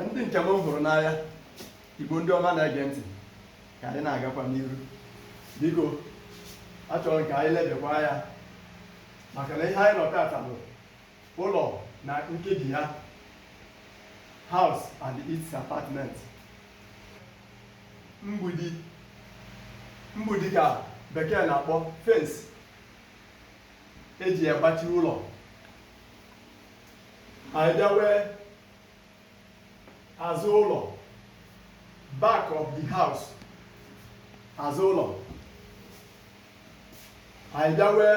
ndị nke m hụrụ n'anya igbo ndị ọma na-ege ntị ka anyị na-agakwa n'iru biko achọrọ m ka anyị lebekwa anya maka na ihe anyị nọ tata bụ ụlọ na nkebi ya house and its apartment mgbidi mgbidi ka bekee na-akpọ fence eji agbachi ụlọ anyị bịawe azụ ụlọ back of the house azụ ụlọ anyị bịawe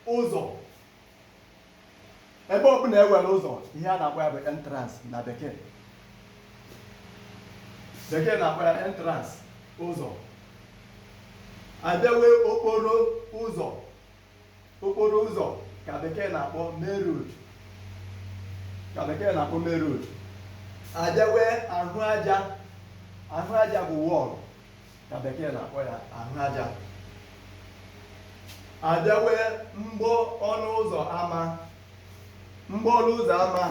ụzọ ebe ọ bụla e nwere ụzọ ihe a na-akpọ ya bụ entrance na bekee bekee na-akpọ ya entrance ụzọ anyị bịawe okporo ụzọ okporo ụzọ ka bekee na-akpọ main road ka bekee na-akpọ main road abịawe ahụ aja ahụ aja bụ wall ka bekee na-akpọ ya ahụ aja abịawe mgbo ọnụ ụzọ ama mgbo ọnụ ụzọ ama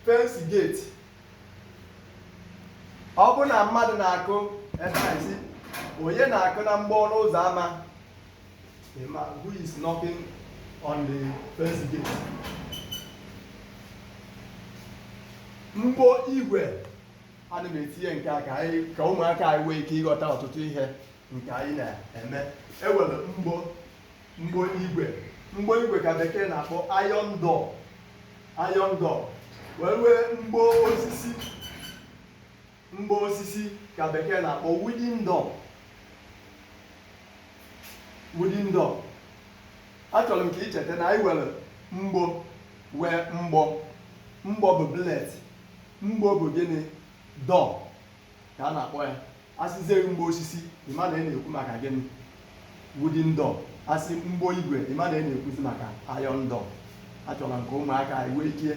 fence gate ọ bụ na mmadụ na-akụ ebe a sị onye na-akụ na mgbo ọnụ ụzọ ama who is knocking on the fence gate. Mgbo igwe ana m etinye nke a ka anyị ka ụmụaka anyị nwee ike ịghọta ọtụtụ ihe nke anyị na-eme e nwere mgbo mgbo igwe mgbo igwe ka bekee na-akpọ iron door iron door wee nwee mgbo osisi mgbo osisi ka bekee na-akpọ wooden door wooden door achọrọ m ka ị cheta na anyị nwere mgbo nwee mgbọ mgbọ bụ bullet mgbo bụ gịnị door ka a na-akpọ ya asịzie mgbo osisi ịma na ị na-ekwu maka gịnị wooden door asị mgbo igwe ịma na ị na-ekwuzi maka iron door achọrọ m ka ụmụaka anyị nwee ike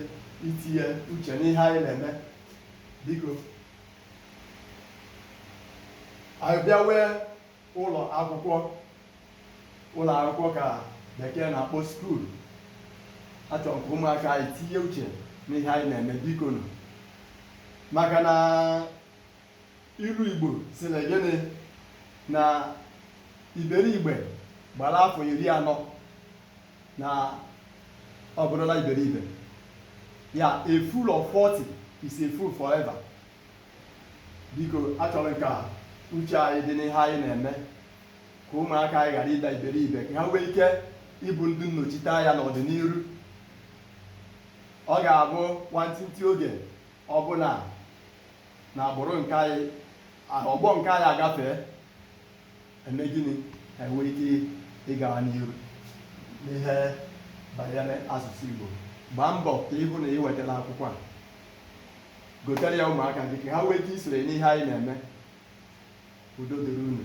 itinye uche n'ihe anyị na-eme biko anyị bịawe ụlọ akwụkwọ ụlọ akwụkwọ ka bekee na-akpọ school achọrọ m ka ụmụaka anyị tinye uche n'ihe anyị na-eme biko nụ maka na ilu igbo sịrị gịnị na iberibe gbara afọ iri anọ na ọ bụrụla iberibe ya a fool of 40 is a fool forever biko achọrọ m ka uche anyị dị n'ihe anyị na-eme ka ụmụaka anyị ghara ịda iberibe ka ha nwee ike ịbụ ndị nnọchite anya n'ọdịniru ọ ga-abụ nwantịntị oge ọbụla na agbụrụ nke anyị ọgbọ nke anyị agafee emee gịnị ha enwee ike ịgawa n'iru n'ihe banyere asụsụ Igbo gbaa mbọ ka ị hụ na i wetara akwụkwọ a gotere ya ụmụaka gị ka ha nwee ike isonye n'ihe anyị na-eme udo dịrị unu